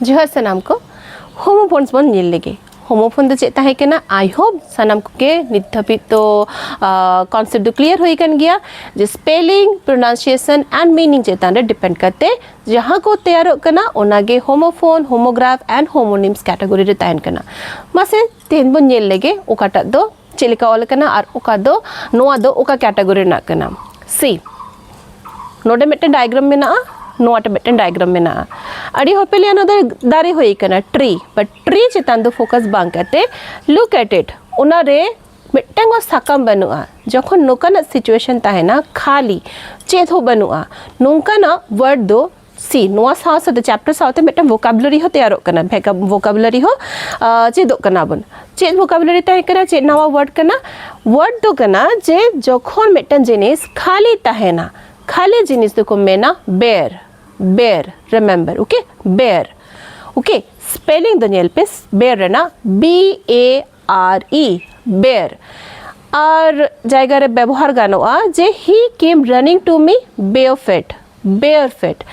ᱡᱚᱦᱟᱨ ᱥᱟᱱᱟᱢ ᱠᱚ ᱦᱳᱢᱳᱯᱷᱳᱱᱥ ᱵᱚᱱ ᱧᱮᱞ ᱞᱮᱜᱮ ᱦᱳᱢᱳᱯᱷᱳᱱ ᱫᱚ ᱪᱮᱫ ᱛᱟᱦᱮᱸ ᱠᱟᱱᱟ ᱟᱭ ᱦᱳᱯ ᱥᱟᱱᱟᱢ ᱠᱚᱜᱮ ᱱᱤᱛ ᱫᱷᱟᱹᱵᱤᱡ ᱫᱚ ᱠᱚᱱᱥᱮᱯᱴ ᱫᱚ ᱠᱞᱤᱭᱟᱨ ᱦᱩᱭ ᱠᱟᱱ ᱜᱮᱭᱟ ᱡᱮ ᱥᱯᱮᱞᱤᱝ ᱯᱨᱚᱱᱟᱣᱱᱥᱤᱭᱮᱥᱚᱱ ᱮᱱᱰ ᱢᱤᱱᱤᱝ ᱪᱮᱛᱟᱱ ᱨᱮ ᱰᱤᱯᱮᱱᱰ ᱠᱟᱛᱮ ᱡᱟᱦᱟᱸ ᱠᱚ ᱛᱮᱭᱟᱨᱚᱜ ᱠᱟᱱᱟ ᱚᱱᱟᱜᱮ homophone homograph and homonyms category ᱨᱮ ᱛᱟᱦᱮᱱ ᱠᱟᱱᱟ ᱢᱟᱥᱮ ᱛᱮᱦᱮᱧ ᱵᱚᱱ ᱧᱮᱞ ᱞᱮᱜᱮ ᱚᱠᱟᱴᱟᱜ ᱫᱚ ᱪᱮᱫ ᱞᱮᱠᱟ ᱚᱞ ᱟᱠᱟᱱᱟ ᱟᱨ ᱚᱠᱟ ᱫᱚ ᱱᱚᱣᱟ ᱫᱚ ᱚᱠᱟ ᱠᱮᱴᱟᱜᱚᱨᱤ ᱨᱮᱱᱟᱜ ᱠᱟᱱᱟ ᱥᱤ ᱱᱚᱰᱮ ᱢᱤᱫᱴᱮᱱ ᱰᱟᱭᱜᱨᱟᱢ ᱢᱮᱱᱟᱜᱼᱟ ᱱᱚᱣᱟᱴᱟ ᱢᱤᱫᱴᱮᱱ ᱰᱟᱭᱜᱨᱟᱢ ᱢᱮᱱᱟᱜᱼᱟ ᱟᱹᱰᱤ ᱦᱚᱲ ᱯᱮ ᱞᱟᱹᱭᱟ ᱱᱚᱣᱟ ᱫᱚ ᱫᱟᱨᱮ ᱦᱩᱭ ᱟᱠᱟᱱᱟ ᱴᱨᱤ ᱵᱟᱴ ᱴᱨᱤ ᱪᱮᱛᱟᱱ ᱫᱚ ᱯᱷᱳᱠᱟᱥ ᱵᱟᱝ ᱠᱟᱛᱮ ᱞᱩᱠ ᱮᱴ ᱤᱴ ᱚᱱᱟᱨᱮ ᱢᱤᱫᱴᱟᱝ ᱦᱚᱸ ᱥᱟᱠᱟᱢ ᱵᱟᱹᱱᱩᱜᱼᱟ ᱡᱚᱠᱷᱚᱱ ᱱᱚᱝᱠᱟᱱᱟᱜ ᱥᱤᱪᱩᱭᱮᱥᱚᱱ ᱛᱟᱦᱮᱱᱟ ᱠᱷᱟᱹᱞᱤ ᱪᱮᱫ ᱦᱚᱸ ᱵᱟᱹᱱᱩᱜᱼᱟ ᱱᱚᱝᱠᱟᱱᱟᱜ ᱣᱟᱨᱰ ᱫᱚ ᱥᱤ ᱱᱚᱣᱟ ᱥᱟᱶ ᱥᱟᱶᱛᱮ ᱪᱮᱯᱴᱟᱨ ᱥᱟᱶᱛᱮ ᱢᱤᱫᱴᱟᱝ ᱵᱷᱳᱠᱟᱵᱩᱞᱟᱨᱤ ᱦᱚᱸ ᱛᱮᱭᱟᱨᱚᱜ ᱠᱟᱱᱟ ᱵᱷᱳᱠᱟᱵᱩᱞᱟᱨᱤ ᱦᱚᱸ ᱪᱮᱫᱚᱜ ᱠᱟᱱᱟ ᱵᱚᱱ ᱪᱮᱫ ᱵᱷᱳᱠᱟᱵᱩᱞᱟᱨᱤ ᱛᱟᱦᱮᱸ ᱠᱟᱱᱟ ᱪᱮᱫ ᱱᱟᱣᱟ ᱣᱟᱨᱰ ᱠᱟᱱᱟ ᱣᱟᱨᱰ ᱫᱚ ᱠᱟᱱᱟ ᱡᱮ ᱡᱚᱠᱷᱚᱱ ᱢᱤᱫᱴᱟᱝ ᱡᱤᱱᱤᱥ ᱠᱷᱟᱹᱞᱤ ᱛᱟᱦᱮᱱᱟ ᱠᱷᱟᱹᱞᱤ ᱡᱤᱱᱤᱥ ᱫᱚᱠᱚ ᱢᱮᱱᱟ bear bear remember okay bear okay spelling ᱫᱚ ᱧᱮᱞ ᱯᱮ ᱵᱮᱨ ᱨᱮᱱᱟᱜ ᱵᱤ ᱮ ᱟᱨ ᱤ ᱵᱮᱭᱟᱨ ᱟᱨ ᱡᱟᱭᱜᱟ ᱨᱮ ᱵᱮᱵᱚᱦᱟᱨ ᱜᱟᱱᱚᱜᱼᱟ ᱡᱮ ᱦᱤ ᱠᱮᱢ ᱨᱟᱱᱤᱝ ᱴᱩ ᱢᱤ ᱵᱮᱭᱟᱨ ᱯᱷᱮᱴ ᱵᱮᱭᱟᱨ ᱯᱷᱮᱴ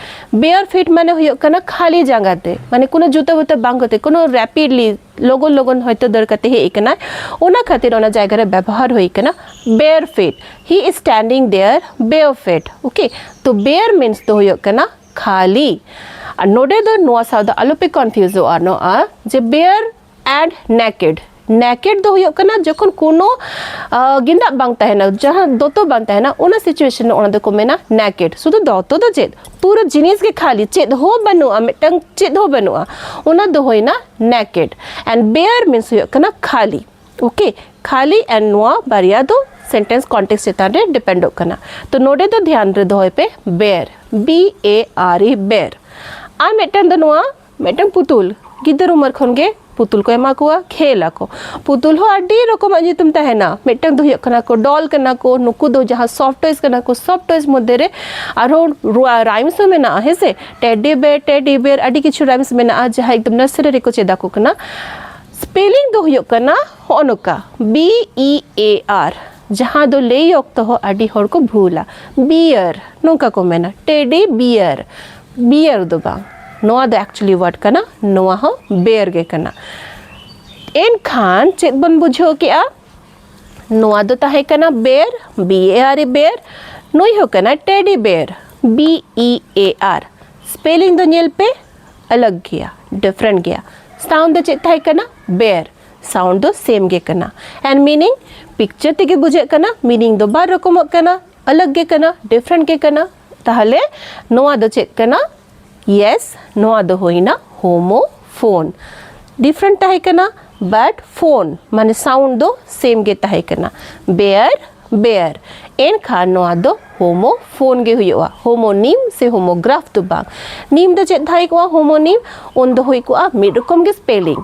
ᱵᱮᱭᱟᱨ ᱯᱷᱮᱴ ᱢᱟᱱᱮ ᱦᱩᱭᱩᱜ ᱠᱟᱱᱟ ᱠᱷᱟᱹᱞᱤ ᱡᱟᱸᱜᱟ ᱛᱮ ᱢᱟᱱᱮ ᱠᱳᱱᱳ ᱡᱩᱛᱟᱹ ᱵᱩᱛᱟᱹ ᱵᱟᱝ ᱠᱟᱛᱮ ᱠᱳᱱᱳ ᱨᱮᱯᱤᱰᱞᱤ ᱞᱚᱜᱚᱱ ᱞᱚᱜᱚᱱ ᱦᱚᱭᱛᱳ ᱫᱟᱹᱲ ᱠᱟᱛᱮ ᱦᱮᱡ ᱠᱟᱱᱟ ᱚᱱᱟ ᱠᱷᱟᱹᱛᱤᱨ ᱚᱱᱟ ᱡᱟᱭᱜᱟ ᱨᱮ ᱵᱮᱵᱚᱦᱟᱨ ᱦᱩᱭ ᱠᱟᱱᱟ ᱵᱮᱭᱟᱨ ᱯᱷᱮᱴ ᱦᱤ ᱤᱡ ᱥᱴᱮᱱᱰᱤᱝ ᱫᱮᱭᱟᱨ ᱵᱮᱭᱟᱨ ᱯᱷᱮᱴ ᱳᱠᱮ ᱛᱚ ᱵᱮᱭᱟᱨ ᱢᱤᱱᱥ ᱫᱚ ᱦᱩᱭᱩᱜ ᱠᱟᱱᱟ ᱠᱷᱟᱹᱞᱤ ᱟᱨ ᱱᱚᱰᱮ ᱫᱚ ᱱᱚᱣᱟ ᱥᱟᱶ ᱫᱚ ᱟᱞᱚᱯᱮ ᱠᱚᱱᱯᱷᱤᱭᱩᱡᱚᱜᱼᱟ ᱱᱚᱣᱟ ᱡᱮ ᱵᱮᱭᱟᱨ ᱮᱰ ᱱᱮᱠᱮᱰ ᱱᱮᱠᱮᱰ ᱫᱚ ᱦᱩᱭᱩᱜ ᱠᱟᱱᱟ ᱡᱚᱠᱷᱚᱱ ᱠᱳᱱᱳ ᱜᱮᱸᱫᱟᱜ ᱵᱟᱝ ᱛᱟᱦᱮᱱᱟ ᱡᱟᱦᱟᱸ ᱫᱚᱛᱚ ᱵᱟᱝ ᱛᱟᱦᱮᱱᱟ ᱚᱱᱟ ᱥᱤᱪᱩᱭᱮᱥᱚᱱ ᱨᱮ ᱚᱱᱟ ᱫᱚᱠᱚ ᱢᱮᱱᱟ ᱱᱮᱠᱮᱰ ᱥᱩᱫᱷᱩ ᱫᱚᱛᱚ ᱫᱚ ᱪᱮᱫ ᱯᱩᱨᱟᱹ ᱡᱤᱱᱤᱥ ᱜᱮ ᱠᱷᱟᱹᱞᱤ ᱪᱮᱫ ᱦᱚᱸ ᱵᱟᱹᱱᱩᱜᱼᱟ ᱢᱤᱫᱴᱟᱝ ᱪᱮᱫ ᱦᱚᱸ ᱵᱟᱹᱱᱩᱜᱼᱟ ᱚᱱᱟ ᱫᱚ ᱦᱩᱭᱱᱟ ᱱᱮᱠᱮᱰ ᱮᱱᱰ ᱵᱮᱭᱟᱨ ᱢᱤᱱᱥ ᱦᱩᱭᱩᱜ ᱠᱟᱱᱟ ᱠᱷᱟᱹᱞᱤ ᱳᱠᱮ ᱠᱷᱟᱹᱞᱤ ᱮᱱᱰ ᱱᱚᱣᱟ ᱵᱟᱨᱭᱟ ᱫᱚ ᱥᱮᱱᱴᱮᱱᱥ ᱠᱚᱱᱴᱮᱠᱥ ᱪᱮᱛᱟᱱ ᱨᱮ ᱰᱤᱯᱮᱱᱰᱚᱜ ᱠᱟᱱᱟ ᱛᱚ ᱱᱚᱰᱮ ᱫᱚ ᱫᱷᱮᱭᱟᱱ ᱨᱮ ᱫᱚᱦᱚᱭ ᱯᱮ ᱵᱮᱭᱟᱨ ᱵᱤ ᱮ ᱟᱨ ᱤ ᱵᱮᱭᱟᱨ ᱟᱨ ᱢᱤᱫᱴᱟᱝ ᱫᱚ ᱱᱚᱣᱟ ᱢᱤᱫᱴᱟᱝ ᱯᱩᱛᱩᱞ ᱜᱤᱫᱟᱹᱨ ᱩᱢᱮᱨ ᱠᱷᱚᱱ ᱜᱮ ᱯᱩᱛᱩᱞ ᱠᱚ ᱮᱢᱟ ᱠᱚᱣᱟ ᱠᱷᱮᱞ ᱟᱠᱚ ᱯᱩᱛᱩᱞ ᱦᱚᱸ ᱟᱹᱰᱤ ᱨᱚᱠᱚᱢᱟᱜ ᱧᱩᱛᱩᱢ ᱛᱟᱦᱮᱱᱟ ᱢᱤᱫᱴᱟᱝ ᱫᱚ ᱦᱩᱭᱩᱜ ᱠᱟᱱᱟ ᱠᱚ ᱰᱚᱞ ᱠᱟᱱᱟ ᱠᱚ ᱱᱩᱠᱩ ᱫᱚ ᱡᱟᱦᱟᱸ ᱥᱚᱯᱷᱴ ᱴᱚᱭᱥ ᱠᱟᱱᱟ ᱠᱚ ᱥᱚᱯᱷᱴ ᱴᱚᱭᱥ ᱢᱚᱫᱽᱫᱷᱮ ᱨᱮ ᱟᱨᱦᱚᱸ ᱨᱟᱭᱢᱥ ᱦᱚᱸ ᱢᱮᱱᱟᱜᱼᱟ ᱦᱮᱸ ᱥᱮ ᱴᱮᱰᱤ ᱵᱮ ᱴᱮᱰᱤ ᱵᱮᱨ ᱟᱹᱰᱤ ᱠᱤᱪᱷᱩ ᱨᱟᱭᱢᱥ ᱢᱮᱱᱟᱜᱼᱟ ᱡᱟᱦᱟᱸ ᱮᱠᱫᱚᱢ ᱱᱟᱨᱥᱟᱨᱤ ᱨᱮᱠᱚ ᱪᱮᱫ ᱟᱠᱚ ᱠᱟᱱᱟ ᱥᱯᱮᱞᱤᱝ ᱫᱚ ᱦᱩᱭᱩᱜ ᱠᱟᱱᱟ ᱦᱚᱸᱜᱼᱚ ᱱᱚᱝᱠᱟ ᱵᱤ ᱤ ᱮ ᱟᱨ ᱡᱟᱦᱟᱸ ᱫᱚ ᱞᱟᱹᱭ ᱚᱠᱛᱚ ᱦᱚᱸ ᱟᱹᱰᱤ ᱦᱚᱲ ᱠᱚ ᱵᱷᱩᱞᱟ ᱵᱤᱭᱟᱨ ᱱᱚᱝᱠᱟ ᱠᱚ ᱢᱮᱱᱟ ᱴᱮᱰᱤ ᱵᱤᱭᱟᱨ ᱵᱤᱭᱟᱨ ᱫᱚ ᱵᱟᱝ ᱱᱚᱣᱟ ᱫᱚ ᱮᱠᱪᱩᱭᱮᱞᱤ ᱣᱟᱨᱰ ᱠᱟᱱᱟ ᱱᱚᱣᱟ ᱦᱚᱸ ᱵᱮᱭᱟᱨ ᱜᱮ ᱠᱟᱱᱟ ᱮᱱᱠᱷᱟᱱ ᱪᱮᱫ ᱵᱚᱱ ᱵᱩᱡᱷᱟᱹᱣ ᱠᱮᱜᱼᱟ ᱱᱚᱣᱟ ᱫᱚ ᱛᱟᱦᱮᱸ ᱠᱟᱱᱟ ᱵᱮᱭᱟᱨ ᱵᱤ ᱮ ᱟᱨ ᱮ ᱵᱮᱭᱟᱨ ᱱᱩᱭ ᱦᱚᱸ ᱠᱟᱱᱟ teddy bear B E A R spelling ᱫᱚ ᱧᱮᱞ ᱯᱮ ᱟᱞᱟᱜᱽ ᱜᱮᱭᱟ ᱰᱤᱯᱷᱨᱮᱱᱴ ᱜᱮᱭᱟ ᱥᱟᱣᱩᱱᱰ ᱫᱚ ᱪᱮᱫ ᱛᱟᱦᱮᱸ ᱠᱟᱱᱟ ᱵᱮᱭᱟᱨ ᱥᱟᱣᱩᱱᱰ ᱫᱚ ᱥᱮᱢ ᱜᱮ ᱠᱟᱱᱟ ᱮᱱᱰ ᱢᱤᱱᱤᱝ ᱯᱤᱠᱪᱟᱨ ᱛᱮᱜᱮ ᱵᱩᱡᱷᱟᱹᱜ ᱠᱟᱱᱟ ᱢᱤᱱᱤᱝ ᱫᱚ ᱵᱟᱨ ᱨᱚᱠᱚᱢᱚᱜ ᱠᱟᱱᱟ ᱟᱞᱟᱜᱽ ᱜᱮ ᱠᱟᱱᱟ ᱰᱤᱯᱷᱨᱮᱱᱴ ᱜᱮ ᱠᱟᱱᱟ ᱛᱟᱦᱚᱞᱮ ᱱᱚᱣᱟ ᱫᱚ ᱪᱮᱫ ᱠᱟᱱᱟ ᱭᱮᱥ ᱱᱚᱣᱟ ᱫᱚ ᱦᱩᱭᱱᱟ ᱦᱳᱢᱳ ᱯᱷᱳᱱ ᱰᱤᱯᱷᱨᱮᱱᱴ ᱛᱟᱦᱮᱸ ᱠᱟᱱᱟ ᱵᱟᱴ ᱯᱷᱳᱱ ᱢᱟᱱᱮ ᱥᱟᱣᱩᱱᱰ ᱫᱚ ᱥᱮᱢ ᱜᱮ ᱛᱟᱦᱮᱸ ᱠᱟᱱᱟ ᱵᱮᱭᱟᱨ ᱵᱮᱭᱟᱨ ᱮᱱᱠᱷᱟᱱ ᱱᱚᱣᱟ ᱫᱚ ᱦᱳᱢᱳ ᱯᱷᱳᱱ ᱜᱮ ᱦᱩᱭᱩᱜᱼᱟ ᱦᱳᱢᱳ ᱱᱤᱢ ᱥᱮ ᱦᱳᱢᱳ ᱜᱨᱟᱯᱷ ᱫᱚ ᱵᱟᱝ ᱱᱤᱢ ᱫᱚ ᱪᱮᱫ ᱛᱟᱦᱮᱸ ᱠᱚᱜᱼᱟ ᱦᱳᱢᱳ ᱱᱤᱢ ᱩᱱ ᱫᱚ ᱦᱩᱭ ᱠᱚᱜᱼᱟ ᱢᱤᱫ ᱨᱚᱠᱚᱢ ᱜᱮ ᱥᱯᱮᱞᱤᱝ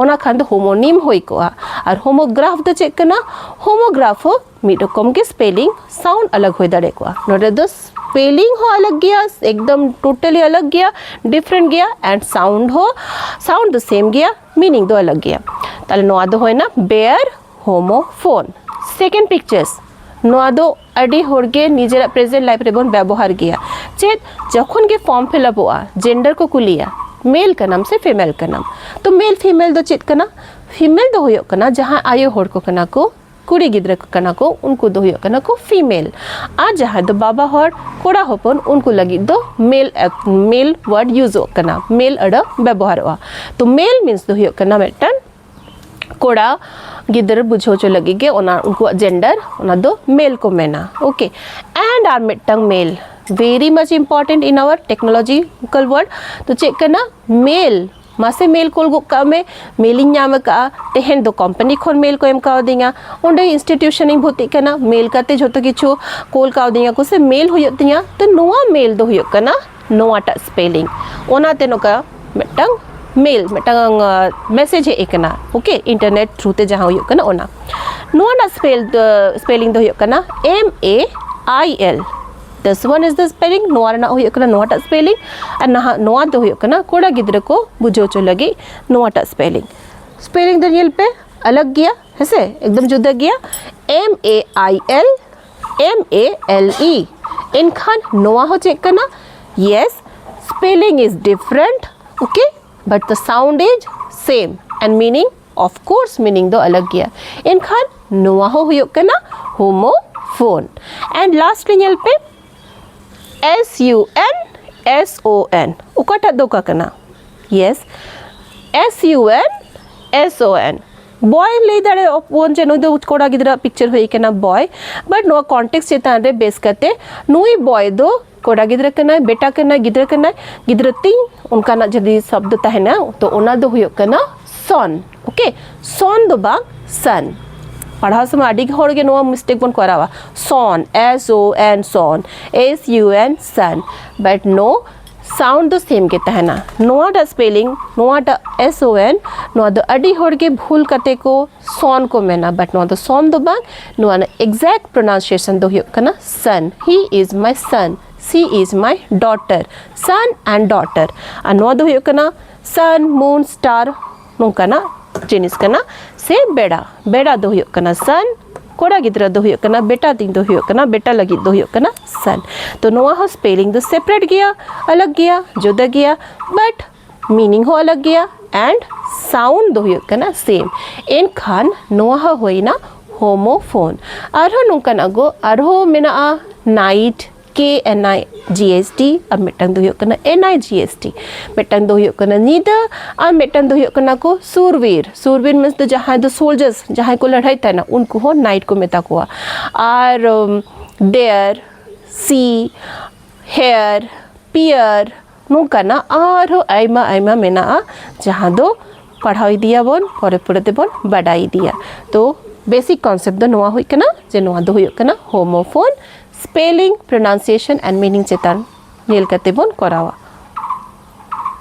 ᱚᱱᱟ ᱠᱷᱟᱱ ᱫᱚ ᱦᱳᱢᱳᱱᱤᱢ ᱦᱩᱭ ᱠᱚᱜᱼᱟ ᱟᱨ ᱦᱳᱢᱳᱜᱨᱟᱯᱷ ᱫᱚ ᱪᱮᱫ ᱠᱟᱱᱟ ᱦᱳᱢᱳᱜᱨᱟᱯᱷ ᱦᱚᱸ ᱢᱤᱫ ᱨᱚᱠᱚᱢ ᱜᱮ ᱥᱯᱮᱞᱤᱝ ᱥᱟᱣᱩᱱᱰ ᱟᱞᱟᱜ ᱦᱩᱭ ᱫᱟᱲᱮ ᱠᱚᱜᱼᱟ ᱱᱚᱰᱮ ᱫᱚ ᱥᱯᱮᱞᱤᱝ ᱦᱚᱸ ᱟᱞᱟᱜ ᱜᱮᱭᱟ ᱮᱠᱫᱚᱢ ᱴᱳᱴᱟᱞᱤ ᱟᱞᱟᱜ ᱜᱮᱭᱟ ᱰᱤᱯᱷᱨᱮᱱᱴ ᱜᱮᱭᱟ ᱮᱱᱰ ᱥᱟᱣᱩᱱᱰ ᱦᱚᱸ ᱥᱟᱣᱩᱱᱰ ᱫᱚ ᱥᱮᱢ ᱜᱮᱭᱟ ᱢᱤᱱᱤᱝ ᱫᱚ ᱟᱞᱟᱜ ᱜᱮᱭᱟ ᱛᱟᱦᱞᱮ ᱱᱚᱣᱟ ᱫᱚ ᱦᱩᱭᱱᱟ ᱵᱮᱭᱟᱨ ᱦᱳᱢᱳ ᱯᱷᱳᱱ ᱥᱮᱠᱮᱱᱰ ᱯᱤᱠᱪᱟᱨᱥ ᱱᱚᱣᱟ ᱫᱚ ᱟᱹᱰᱤ ᱦᱚᱲ ᱜᱮ ᱱᱤᱡᱮᱨᱟᱜ ᱯᱨᱮᱡᱮᱱᱴ ᱞᱟᱭᱤᱯᱷ ᱨᱮᱵᱚᱱ ᱵᱮᱵᱚᱦᱟᱨ ᱜᱮᱭᱟ ᱪᱮᱫ ᱡᱚᱠᱷᱚᱱ ᱜᱮ ᱯᱷᱚᱨᱢ ᱯᱷᱤᱞᱟᱯᱚᱜᱼᱟ ᱡᱮᱱᱰᱟᱨ ᱠᱚ ᱠᱩᱞᱤᱭᱟ ᱢᱮᱞ ᱠᱟᱱᱟᱢ ᱥᱮ ᱯᱷᱤᱢᱮᱞ ᱠᱟᱱᱟᱢ ᱛᱚ ᱢᱮᱞ ᱯᱷᱤᱢᱮᱞ ᱫᱚ ᱪᱮᱫ ᱠᱟᱱᱟ ᱯᱷᱤᱢᱮᱞ ᱫᱚ ᱦᱩᱭᱩᱜ ᱠᱟᱱᱟ ᱡᱟᱦᱟᱸ ᱟᱭᱳ ᱦᱚᱲ ᱠᱚ ᱠᱟᱱᱟ ᱠᱚ ᱠᱩᱲᱤ ᱜᱤᱫᱽᱨᱟᱹ ᱠᱚ ᱠᱟᱱᱟ ᱠᱚ ᱩᱱᱠᱩ ᱫᱚ ᱦᱩᱭᱩᱜ ᱠᱟᱱᱟ ᱠᱚ ᱯᱷᱤᱢᱮᱞ ᱟᱨ ᱡᱟᱦᱟᱸᱭ ᱫᱚ ᱵᱟᱵᱟ ᱦᱚᱲ ᱠᱚᱲᱟ ᱦᱚᱯᱚᱱ ᱩᱱᱠᱩ ᱞᱟᱹᱜᱤᱫ ᱫᱚ ᱢᱮᱞ ᱢᱮᱞ ᱣᱟᱨᱰ ᱭᱩᱡᱚᱜ ᱠᱟᱱᱟ ᱢᱮᱞ ᱟᱹᱲᱟᱹ ᱵᱮᱵᱚᱦᱟᱨᱚᱜᱼᱟ ᱛᱚ ᱢᱮᱞ ᱢᱤᱱᱥ ᱫᱚ ᱦᱩᱭᱩᱜ ᱠᱟᱱᱟ ᱢᱤᱫᱴᱟᱝ ᱠᱚᱲᱟ ᱜᱤᱫᱽᱨᱟᱹ ᱵᱩᱡᱷᱟᱹᱣ ᱦᱚᱪᱚ ᱞᱟᱹᱜᱤᱫ ᱜᱮ ᱚᱱᱟ ᱩᱱᱠᱩᱣᱟᱜ ᱡᱮᱱᱰᱟᱨ ᱚᱱᱟ ᱫᱚ ᱢᱮᱞ ᱠᱚ ᱢᱮᱱᱟ ᱳᱠᱮ ᱮᱱᱰ ᱟᱨ ᱢᱤᱫᱴᱟᱝ ᱢᱮᱞ ᱵᱷᱮᱨᱤ ᱢᱟᱪ ᱤᱢᱯᱚᱨᱴᱮᱱᱴ ᱤᱱ ᱟᱣᱟᱨ ᱴᱮᱠᱱᱳᱞᱚᱡᱤᱠᱟᱞ ᱣᱟᱨᱰ ᱛᱚ ᱪᱮᱫ ᱠᱟᱱᱟ ᱢᱮᱞ ᱢᱟᱥᱮ ᱢᱮᱞ ᱠᱳᱞ ᱜᱚᱫ ᱠᱟᱜ ᱢᱮ ᱢᱮᱞᱤᱧ ᱧᱟᱢ ᱟᱠᱟᱫᱼᱟ ᱛᱮᱦᱮᱧ ᱫᱚ ᱠᱳᱢᱯᱟᱱᱤ ᱠᱷᱚᱱ ᱢᱮᱞ ᱠᱚ ᱮᱢ ᱠᱟᱣᱫᱤᱧᱟ ᱚᱸᱰᱮ ᱤᱱᱥᱴᱤᱴᱤᱭᱩᱥᱚᱱᱤᱧ ᱵᱷᱚᱨᱛᱤᱜ ᱠᱟᱱᱟ ᱢᱮᱞ ᱠᱟᱛᱮ ᱡᱷᱚᱛᱚ ᱠᱤᱪᱷᱩ ᱠᱳᱞ ᱠᱟᱣᱫᱤᱧᱟ ᱠᱚ ᱥᱮ ᱢᱮᱞ ᱦᱩᱭᱩᱜ ᱛᱤᱧᱟ ᱛᱚ ᱱᱚᱣᱟ ᱢᱮᱞ ᱫᱚ ᱦᱩᱭᱩᱜ ᱠᱟᱱᱟ ᱱᱚᱣᱟᱴᱟᱜ ᱥᱯᱮᱞᱤᱝ ᱚᱱᱟᱛᱮ ᱱᱚᱝᱠᱟ ᱢᱤᱫᱴᱟᱝ ᱢᱮᱞ ᱢᱤᱫᱴᱟᱝ ᱢᱮᱥᱮᱡᱽ ᱦᱮᱡ ᱟᱠᱟᱱᱟ ᱳᱠᱮ ᱤᱱᱴᱟᱨᱱᱮᱴ ᱛᱷᱨᱩ ᱛᱮ ᱡᱟᱦᱟᱸ ᱦᱩᱭᱩᱜ ᱠᱟᱱᱟ ᱚᱱᱟ ᱱᱚᱣᱟ ᱨᱮᱱᱟᱜ ᱥᱯᱮᱞ ᱥᱯᱮᱞᱤᱝ ᱫᱚ ᱦᱩᱭᱩᱜ ᱠᱟᱱᱟ ᱮᱢ ᱮ ᱟᱭ ᱮᱞ ᱫᱤᱥ ᱚᱣᱟᱱ ᱤᱡ ᱫᱟ ᱥᱯᱮᱞᱤᱝ ᱱᱚᱣᱟ ᱨᱮᱱᱟᱜ ᱦᱩᱭᱩᱜ ᱠᱟᱱᱟ ᱱᱚᱣᱟᱴᱟᱜ ᱥᱯᱮᱞᱤᱝ ᱟᱨ ᱱᱟᱦᱟᱜ ᱱᱚᱣᱟ ᱫᱚ ᱦᱩᱭᱩᱜ ᱠᱟᱱᱟ ᱠᱚᱲᱟ ᱜᱤᱫᱽᱨᱟᱹ ᱠᱚ ᱵᱩᱡᱷᱟᱹᱣ ᱦᱚᱪᱚ ᱞᱟᱹᱜᱤᱫ ᱱᱚᱣᱟᱴᱟᱜ ᱥᱯᱮᱞᱤᱝ ᱥᱯᱮᱞᱤᱝ ᱫᱚ ᱧᱮᱞ ᱯᱮ ᱟᱞᱟᱜᱽ ᱜᱮᱭᱟ ᱦᱮᱸᱥᱮ ᱮᱠᱫᱚᱢ ᱡᱩᱫᱟᱹ ᱜᱮᱭᱟ M A I L M A L E ᱮᱱᱠᱷᱟᱱ ᱱᱚᱣᱟ ᱦᱚᱸ ᱪᱮᱫ ᱠᱟᱱᱟ yes spelling is different okay but the sound is same and meaning of course meaning ᱫᱚ ᱟᱞᱟᱜ ᱜᱮᱭᱟ ᱮᱱᱠᱷᱟᱱ ᱱᱚᱣᱟ ᱦᱚᱸ ᱦᱩᱭᱩᱜ ᱠᱟᱱᱟ ᱦᱳᱢᱳ ᱯᱷᱳᱱ ᱮᱱᱰ ᱞᱟᱥᱴ ᱨᱮ ᱧᱮᱞ ᱯᱮ S U N S O N ᱚᱠᱟᱴᱟᱜ ᱫᱚ ᱚᱠᱟ ᱠᱟᱱᱟ yes S U N S O N ᱵᱚᱭ ᱞᱟᱹᱭ ᱫᱟᱲᱮᱭᱟᱜ ᱵᱚᱱ ᱡᱮ ᱱᱩᱭ ᱫᱚ ᱠᱚᱲᱟ ᱜᱤᱫᱽᱨᱟᱹ ᱯᱤᱠᱪᱟᱨ ᱦᱩᱭ ᱠᱟᱱᱟ ᱵᱚᱭ ᱵᱟᱴ ᱱᱚᱣᱟ ᱠᱚᱱᱴᱮᱠᱥ ᱪᱮᱛᱟᱱ ᱨᱮ ᱵᱮᱥ ᱠᱟᱛᱮ ᱱᱩᱭ ᱵᱚᱭ ᱫᱚ ᱠᱚᱲᱟ ᱜᱤᱫᱽᱨᱟᱹ ᱠᱟᱱᱟᱭ ᱵᱮᱴᱟ ᱠᱟᱱᱟᱭ ᱜᱤᱫᱽᱨᱟᱹ ᱠᱟᱱᱟᱭ ᱜᱤᱫᱽᱨᱟᱹ ᱛᱤᱧ ᱚᱱᱠᱟᱱᱟᱜ ᱡᱩᱫᱤ ᱥᱚᱵᱫᱚ ᱛᱟᱦᱮᱱᱟ ᱛᱚ ᱚᱱᱟ ᱫᱚ ᱦᱩᱭᱩᱜ ᱠᱟᱱᱟ ᱥᱚᱱ ᱳᱠᱮ ᱥᱚᱱ ᱫᱚ ᱵᱟᱝ ᱥᱟᱱ ᱯᱟᱲᱦᱟᱣ ᱥᱚᱢᱚᱭ ᱟᱹᱰᱤ ᱦᱚᱲ ᱜᱮ ᱱᱚᱣᱟ ᱢᱤᱥᱴᱮᱠ ᱵᱚᱱ ᱠᱚᱨᱟᱣᱟ ᱥᱚᱱ S O N son S U N sun but no sound ᱫᱚ ᱥᱮᱢ ᱜᱮ ᱛᱟᱦᱮᱱᱟ ᱱᱚᱣᱟᱴᱟᱜ ᱥᱯᱮᱞᱤᱝ ᱱᱚᱣᱟᱴᱟᱜ ᱮᱥ ᱳ ᱮᱱ ᱱᱚᱣᱟ ᱫᱚ ᱟᱹᱰᱤ ᱦᱚᱲ ᱜᱮ ᱵᱷᱩᱞ ᱠᱟᱛᱮ ᱠᱚ ᱥᱚᱱ ᱠᱚ ᱢᱮᱱᱟ ᱵᱟᱴ ᱱᱚᱣᱟ ᱫᱚ ᱥᱚᱱ ᱫᱚ ᱵᱟᱝ ᱱᱚᱣᱟ ᱨᱮᱱᱟᱜ ᱮᱠᱡᱮᱠᱴ ᱯᱨᱚᱱᱟᱣᱱᱥᱤᱭᱮᱥᱚᱱ ᱫᱚ ᱦᱩᱭᱩᱜ ᱠᱟᱱᱟ ᱥᱟᱱ ᱦᱤ ᱤᱡ ᱢᱟᱭ ᱥᱟᱱ ᱥᱤ ᱤᱡ ᱢᱟᱭ ᱰᱚᱴᱟᱨ ᱥᱟᱱ ᱮᱱᱰ ᱰᱚᱴᱟᱨ ᱟᱨ ᱱᱚᱣᱟ ᱫᱚ ᱦᱩᱭᱩᱜ ᱠᱟᱱᱟ ᱥᱟᱱ ᱢᱩᱱ ᱥᱴᱟᱨ ᱱᱚᱝᱠᱟᱱᱟᱜ ᱡᱤᱱᱤᱥ ᱠᱟᱱᱟ ᱥᱮ ᱵᱮᱲᱟ ᱵᱮᱲᱟ ᱫᱚ ᱦᱩᱭᱩᱜ ᱠᱟᱱᱟ ᱥᱟᱱ ᱠᱚᱲᱟ ᱜᱤᱫᱽᱨᱟᱹ ᱫᱚ ᱦᱩᱭᱩᱜ ᱠᱟᱱᱟ ᱵᱮᱴᱟ ᱛᱤᱧ ᱫᱚ ᱦᱩᱭᱩᱜ ᱠᱟᱱᱟ ᱵᱮᱴᱟ ᱞᱟᱹᱜᱤᱫ ᱫᱚ ᱦᱩᱭᱩᱜ ᱠᱟᱱᱟ ᱥᱟᱱ ᱛᱚ ᱱᱚᱣᱟ ᱦᱚᱸ ᱥᱯᱮᱞᱤᱝ ᱫᱚ ᱥᱮᱯᱟᱨᱮᱴ ᱜᱮᱭᱟ ᱟᱞᱟᱜᱽ ᱜᱮᱭᱟ ᱡᱩᱫᱟᱹ ᱜᱮᱭᱟ ᱵᱟᱴ ᱢᱤᱱᱤᱝ ᱦᱚᱸ ᱟᱞᱟᱜᱽ ᱜᱮᱭᱟ ᱮᱱᱰ ᱥᱟᱣᱩᱱᱰ ᱫᱚ ᱦᱩᱭᱩᱜ ᱠᱟᱱᱟ ᱥᱮᱢ ᱮᱱᱠᱷᱟᱱ ᱱᱚᱣᱟ ᱦᱚᱸ ᱦᱩᱭᱱᱟ ᱦᱳᱢᱳᱯᱷᱳᱱ ᱟᱨᱦᱚᱸ ᱱᱚᱝᱠᱟᱱᱟᱜ ᱜᱚ ᱟᱨᱦᱚᱸ ᱢᱮᱱᱟᱜᱼᱟ ᱱᱟᱭᱤᱴ KNI GST ᱟᱨ ᱢᱤᱫᱴᱟᱝ ᱫᱚ ᱦᱩᱭᱩᱜ ᱠᱟᱱᱟ NI GST ᱢᱤᱫᱴᱟᱝ ᱫᱚ ᱦᱩᱭᱩᱜ ᱠᱟᱱᱟ ᱧᱤᱫᱟᱹ ᱟᱨ ᱢᱤᱫᱴᱟᱝ ᱫᱚ ᱦᱩᱭᱩᱜ ᱠᱟᱱᱟ ᱠᱚ ᱥᱩᱨᱵᱤᱨ ᱥᱩᱨᱵᱤᱨ ᱢᱤᱱᱥ ᱫᱚ ᱡᱟᱦᱟᱸᱭ ᱫᱚ ᱥᱳᱞᱡᱟᱨᱥ ᱡᱟᱦᱟᱸᱭ ᱠᱚ ᱞᱟᱹᱲᱦᱟᱹᱭ ᱛᱟᱦᱮᱱᱟ ᱩᱱᱠᱩ ᱦᱚᱸ ᱱᱟᱭᱤᱴ ᱠᱚ ᱢᱮᱛᱟ ᱠᱚᱣᱟ ᱟᱨ ᱰᱮᱭᱟᱨ ᱥᱤ ᱦᱮᱭᱟᱨ ᱯᱤᱭᱟᱨ ᱱᱚᱝᱠᱟᱱᱟᱜ ᱟᱨᱦᱚᱸ ᱟᱭᱢᱟ ᱟᱭᱢᱟ ᱢᱮᱱᱟᱜᱼᱟ ᱡᱟᱦᱟᱸ ᱫᱚ ᱯᱟᱲᱦᱟᱣ ᱤᱫᱤᱭᱟᱵᱚᱱ ᱯᱚᱨᱮ ᱯᱚᱨᱮ ᱛᱮᱵᱚᱱ ᱵᱟᱰᱟᱭ ᱤᱫᱤᱭᱟ ᱛᱚ ᱵᱮᱥᱤᱠ ᱠᱚᱱᱥᱮᱯᱴ ᱫᱚ ᱱᱚᱣᱟ ᱦᱩᱭᱩᱜ ᱠᱟᱱᱟ ᱡᱮ ᱱᱚᱣᱟ ᱫᱚ ᱦᱩᱭᱩᱜ ᱠᱟᱱᱟ homophone spelling pronunciation and meaning ᱪᱮᱛᱟᱱ ᱧᱮᱞ ᱠᱟᱛᱮ ᱵᱚᱱ ᱠᱚᱨᱟᱣᱟ